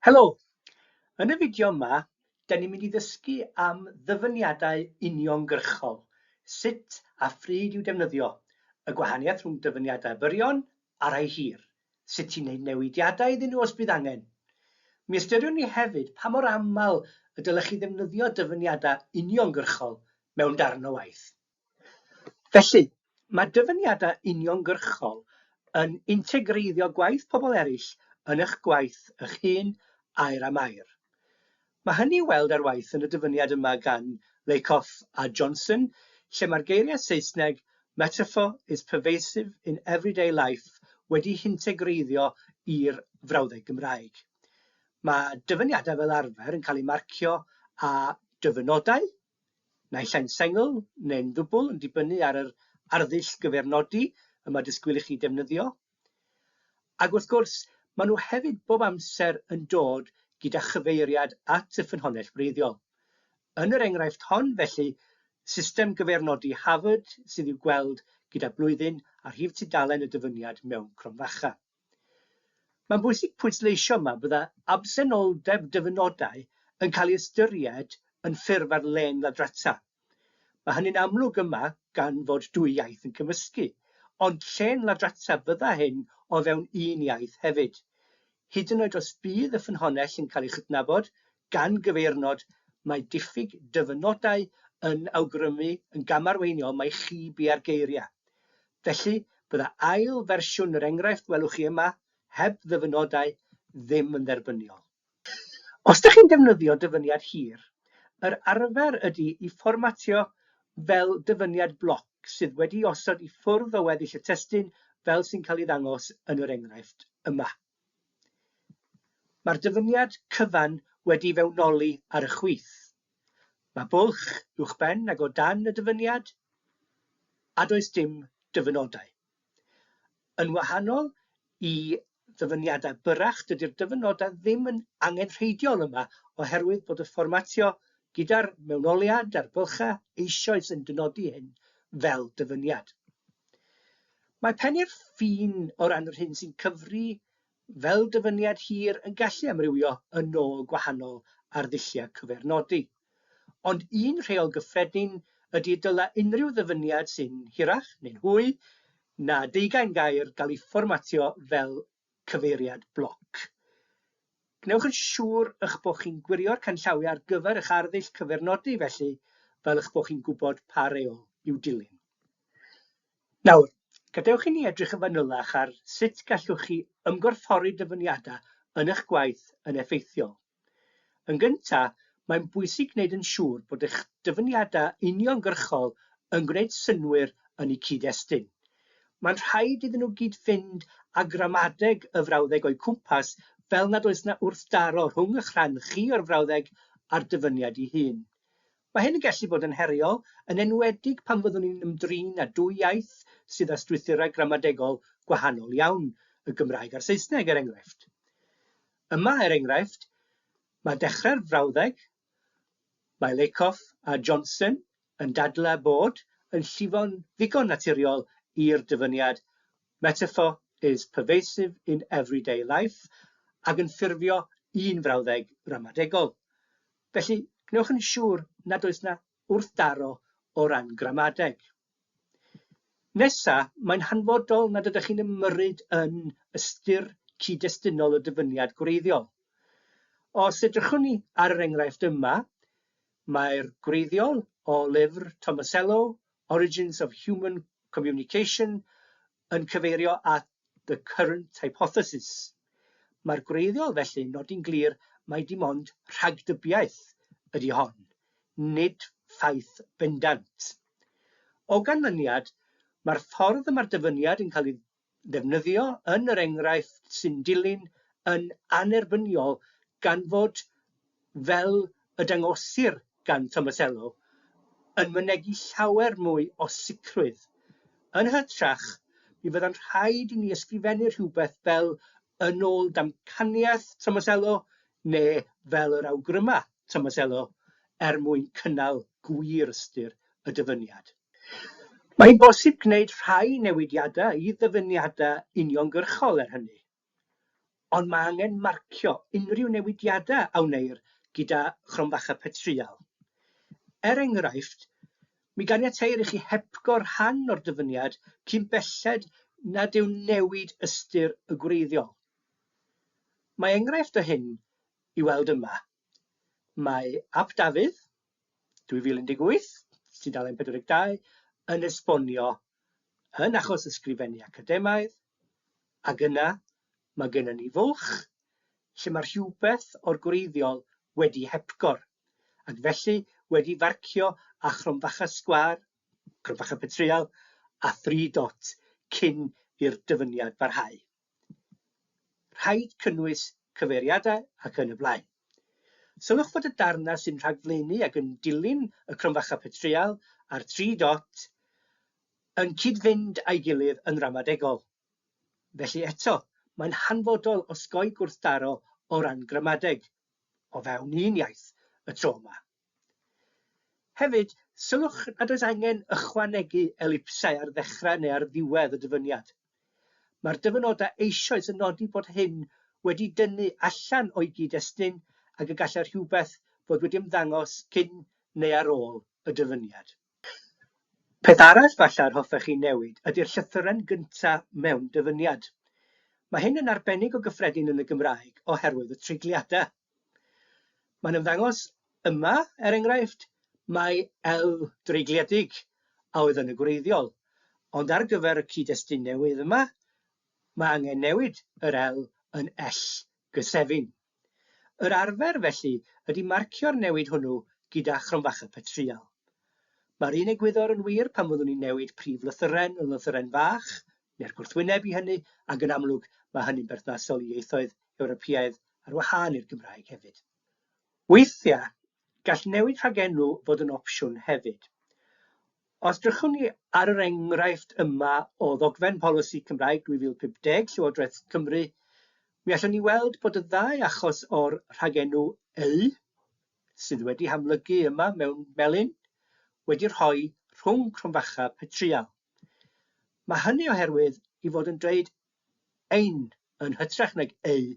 Helo! Yn y fideo yma, da ni'n mynd i ddysgu am ddyfyniadau uniongyrchol, sut a phryd i'w defnyddio, y gwahaniaeth rhwng dyfyniadau byrion a rhai hir, sut i wneud newidiadau iddyn nhw os bydd angen. Mi ystyriwn ni hefyd pa mor aml y dylech chi ddefnyddio dyfyniadau uniongyrchol mewn darn o waith. Felly, mae dyfyniadau uniongyrchol yn integreiddio gwaith pobl eraill yn eich gwaith eich hun, air am air. Mae hynny i'w weld ar waith yn y dyfyniad yma gan Lakoff a Johnson, lle mae'r geiriau Saesneg 'metaphor is pervasive in everyday life' wedi'u hintegreiddio i'r frawddeg Gymraeg. Mae dyfyniadau fel arfer yn cael eu marcio â dyfynodau, naill ai'n sengl neu'n ddwbl yn dibynnu ar yr arddull gyfeirnodi y mae disgwyl i chi defnyddio. Ac wrth gwrs, maen nhw hefyd bob amser yn dod gyda chyfeiriad at y ffynhonnell wreiddiol. Yn yr enghraifft hon, felly, system gyfeirnodi Harvard sydd i'w gweld gyda blwyddyn a rhif tudalen y dyfyniad mewn cromfacha. Mae'n bwysig pwysleisio yma byddai absenoldeb dyfynodau yn cael ei ystyried yn ffurf ar-lein ladrata. Mae hynny'n amlwg yma gan fod dwy iaith yn cymysgu, ond llên ladrata fydda hyn o fewn un iaith hefyd. Hyd yn oed os bydd y ffynhonnell yn cael ei chydnabod, Gan gyfeirnod, mae diffyg dyfynodau yn awgrymu yn gamarweiniol mai chi bia'r geiriau. Felly, bydda ail fersiwn yr enghraifft welwch chi yma, heb ddyfynodau, ddim yn dderbyniol. Os ydych chi'n defnyddio dyfyniad hir, yr arfer ydy i fformatio fel dyfyniad bloc sydd wedi'i osod i ffwrdd o weddill y testun fel sy'n cael ei ddangos yn yr enghraifft yma. Mae'r dyfyniad cyfan wedi fewnoli ar y chwith. Mae bwlch uwchben ac o dan y dyfyniad, a does dim dyfynodau. Yn wahanol i ddyfyniadau byrrach, dydy'r dyfynodau ddim yn angenrheidiol yma oherwydd bod y fformatio gyda'r mewnoliad a'r bylchau eisoes yn dynodi hyn fel dyfyniad. Mae pennu'r ffin o ran yr hyn sy'n cyfri fel dyfyniad hir yn gallu amrywio yn ôl gwahanol arddulliau cyfeirnodi. Ond un rheol gyffredin ydy y dylai unrhyw ddyfyniad sy'n hirach neu'n hwy na deugain gair gael ei fformatio fel cyfeiriad bloc. Gwnewch yn siŵr eich bod chi'n gwirio'r canllawiau ar gyfer eich arddull cyfeirnodi felly fel eich bod chi'n gwybod pa reol i'w dilyn. Nawr, gadewch i ni edrych yn fanylach ar sut gallwch chi ymgorffori dyfyniadau yn eich gwaith yn effeithiol. Yn gyntaf, mae'n bwysig gwneud yn siŵr bod eich dyfyniadau uniongyrchol yn gwneud synnwyr yn eu cyd-destun. Mae'n rhaid iddyn nhw gyd-fynd â gramadeg y frawddeg o'u cwmpas fel nad oes 'na wrthdaro rhwng eich rhan chi o'r frawddeg a'r dyfyniad ei hun. Mae hyn yn gallu bod yn heriol, yn enwedig pan fyddwn ni'n ymdrin â dwy iaith sydd â strwythurau gramadegol gwahanol iawn, y Gymraeg a'r Saesneg, er enghraifft. Yma, er enghraifft, mae dechrau'r frawddeg, mae Lakoff a Johnson yn dadlau bod yn llifo'n ddigon naturiol i'r dyfyniad metaphor is pervasive in everyday life ag yn ffurfio un frawddeg ramadegol. Felly, gwnewch yn siŵr nad oes 'na wrthdaro o ran gramadeg. Nesa, mae'n hanfodol nad ydych chi'n ymyrryd yn ystyr cyd-destunol o dyfyniad gwreiddiol. Os edrychwn ni ar yr enghraifft yma, mae'r gwreiddiol o lyfr Tomasello, Origins of Human Communication, yn cyfeirio at 'the current hypothesis'. Mae'r gwreiddiol felly'n nodi'n glir mai dim ond rhagdybiaeth ydy hon, nid ffaith bendant. O ganlyniad, mae'r ffordd y mae'r dyfyniad yn cael ei ddefnyddio yn yr enghraifft sy'n dilyn yn annerbyniol gan fod fel y dangosir gan Tomasello, yn mynegi llawer mwy o sicrwydd. Yn hytrach, mi fydda'n rhaid i ni ysgrifennu rhywbeth fel yn ôl damcaniaeth Tomasello neu fel yr awgryma Tomasello er mwyn cynnal gwir ystyr y dyfyniad. Mae'n bosib gwneud rhai newidiadau i ddyfyniadau uniongyrchol, er hynny, Ond mae angen marcio unrhyw newidiadau a wneir gyda chromfacha petryal. Er enghraifft, mi ganiateir i chi hepgor rhan o'r dyfyniad cyn belled nad yw newid ystyr y gwreiddiol. Mae enghraifft o hyn i weld yma. Mae Ap Dafydd, 2018, tudalen 42, yn esbonio yn achos ysgrifennu academaidd, ac yna mae gennym ni fwlch lle mae rhywbeth o'r gwreiddiol wedi hepgor, ac felly wedi farcio â chromfacha sgwâr, cromfacha petryal, a thri dot cyn i'r dyfyniad barhau. Rhaid cynnwys cyfeiriadau ac yn y blaen. Sylwch fod y darnau sy'n rhagflaenu ac yn dilyn y cromfacha petryal a'r tri dot yn cyd-fynd â'i gilydd yn ramadegol. Felly eto, mae'n hanfodol osgoi gwrthdaro o ran gramadeg, o fewn un iaith, y tro yma. Hefyd, sylwch nad oes angen ychwanegu elipsau ar ddechrau neu ar ddiwedd y dyfyniad. Mae'r dyfynodau eisoes yn nodi bod hyn wedi dynnu allan o'i gyd-destun ac y gallai rhywbeth fod wedi ymddangos cyn neu ar ôl y dyfyniad. Peth arall falle yr hoffech chi newid ydy'r llythyren gyntaf mewn dyfyniad. Mae hyn yn arbennig o gyffredin yn y Gymraeg oherwydd y treigliadau. Mae'n ymddangos yma, er enghraifft, mai elw dreigliedig a oedd yn y gwreiddiol, ond ar gyfer y cyd-destun newydd yma, mae angen newid yr elw yn ell gysefin. Yr arfer, felly, ydy marcio'r newid hwnnw gyda chromfacha petryal. Mae'r un egwyddor yn wir pan fyddwn ni'n newid prif lythyren yn lythyren fach, neu'r gwrthwyneb i hynny, ac yn amlwg mae hynny'n berthnasol i ieithoedd Ewropeaidd ar wahân i'r Gymraeg hefyd. Weithiau, gall newid rhagenw fod yn opsiwn hefyd. Os drychwn ni ar yr enghraifft yma o ddogfen polisi Cymraeg 2050 Llywodraeth Cymru, mi allwn ni weld bod y ddau achos o'r rhagenw eu, sydd wedi hamlygu yma mewn melyn, wedi rhoi rhwng cromfacha petryal. Mae hynny oherwydd i fod yn dweud 'ein' yn hytrach nag 'eu'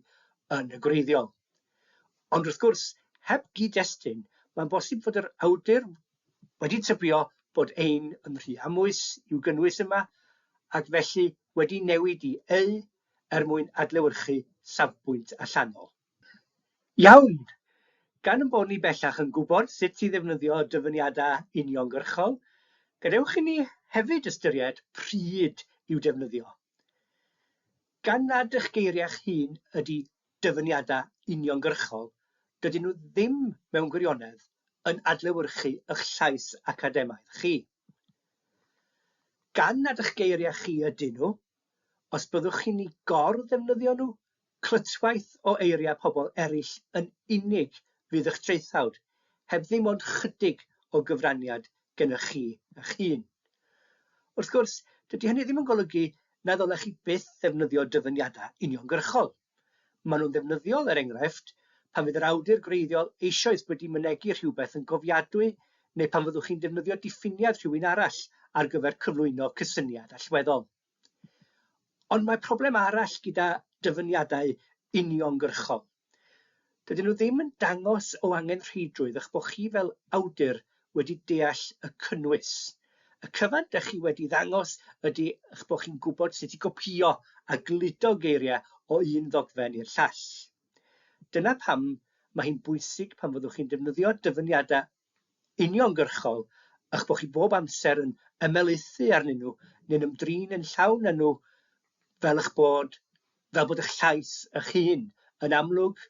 yn y gwreiddiol. Ond wrth gwrs, heb gyd-destun, mae'n bosib fod yr awdur wedi tybio bod 'ein' yn rhy amwys i'w gynnwys yma ac felly wedi newid i 'eu' er mwyn adlewyrchu safbwynt allanol. Iawn! Gan ein bod ni bellach yn gwybod sut i ddefnyddio dyfyniadau uniongyrchol, gadewch i ni hefyd ystyried pryd i'w defnyddio. Gan nad eich geiriau'ch hun ydy dyfyniadau uniongyrchol, dydyn nhw ddim mewn gwirionedd yn adlewyrchu eich llais academaidd chi. Gan nad eich geiriau chi ydyn nhw, Os byddwch chi'n eu gor-ddefnyddio nhw, clytwaith o eiriau pobl eraill yn unig fydd eich traethawd, heb ddim ond chydig o gyfraniad gennych chi eich hun. Wrth gwrs, dydy hynny ddim yn golygu na ddylech chi byth ddefnyddio dyfyniadau uniongyrchol. Maen nhw'n ddefnyddiol, er enghraifft, pan fydd yr awdur gwreiddiol eisoes wedi mynegi rhywbeth yn gofiadwy neu pan fyddwch chi'n defnyddio diffiniad rhywun arall ar gyfer cyflwyno cysyniad allweddol. Ond mae problem arall gyda dyfyniadau uniongyrchol. Dydyn nhw ddim yn dangos o angenrheidrwydd eich bod chi fel awdur wedi deall y cynnwys. Y cyfan dych chi wedi ddangos ydy eich bod chi'n gwybod sut i gopïo a gludo geiriau o un ddogfen i'r llall. Dyna pam mae hi'n bwysig pan fyddwch chi'n defnyddio dyfyniadau uniongyrchol a'ch bod chi bob amser yn ymelaethu arnyn nhw neu'n ymdrin yn llawn â nhw fel eich bod, fel bod eich llais eich hun yn amlwg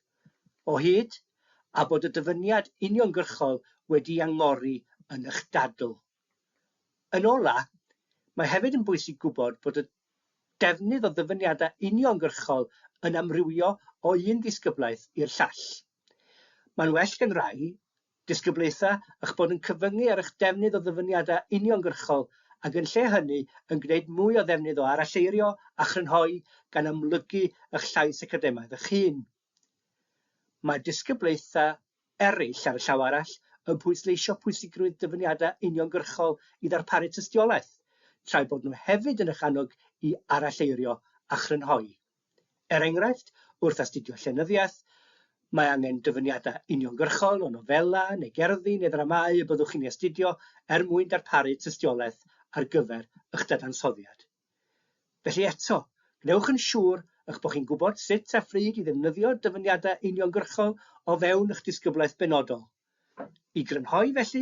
o hyd a bod y dyfyniad uniongyrchol wedi'i angori yn eich dadl. Yn ola', mae hefyd yn bwysig gwybod bod y defnydd o ddyfyniadau uniongyrchol yn amrywio o un ddisgyblaeth i'r llall. Mae'n well gan rai disgyblaethau eich bod yn cyfyngu ar eich defnydd o ddyfyniadau uniongyrchol ac yn lle hynny yn gwneud mwy o ddefnydd o aralleirio a chrynhoi gan amlygu eich llais academaidd eich hun. Mae disgyblaethau eraill, ar y llaw arall, yn pwysleisio pwysigrwydd dyfyniadau uniongyrchol i ddarparu tystiolaeth, tra'i bod nhw hefyd yn eich annog i aralleirio a chrynhoi. Er enghraifft, wrth astudio llenyddiaeth, mae angen dyfyniadau uniongyrchol o nofelau neu gerddi neu ddramâu y byddwch chi'n eu astudio er mwyn darparu tystiolaeth ar gyfer eich dadansoddiad. Felly eto, gwnewch yn siŵr eich bod chi'n gwybod sut a phryd i ddefnyddio dyfyniadau uniongyrchol o fewn eich disgyblaeth benodol. I grynhoi, felly,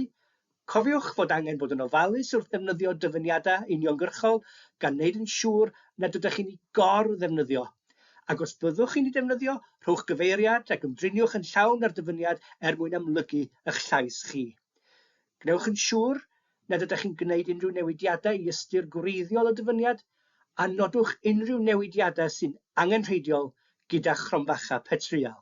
cofiwch fod angen bod yn ofalus wrth ddefnyddio dyfyniadau uniongyrchol gan wneud yn siŵr nad ydych chi'n eu gor-ddefnyddio, ac os byddwch chi'n eu defnyddio, rhowch gyfeiriad ac ymdriniwch yn llawn â'r dyfyniad er mwyn amlygu eich llais chi. Gwnewch yn siŵr nad ydych chi'n gwneud unrhyw newidiadau i ystyr gwreiddiol y dyfyniad, a nodwch unrhyw newidiadau sy'n angenrheidiol gyda chromfacha petryal.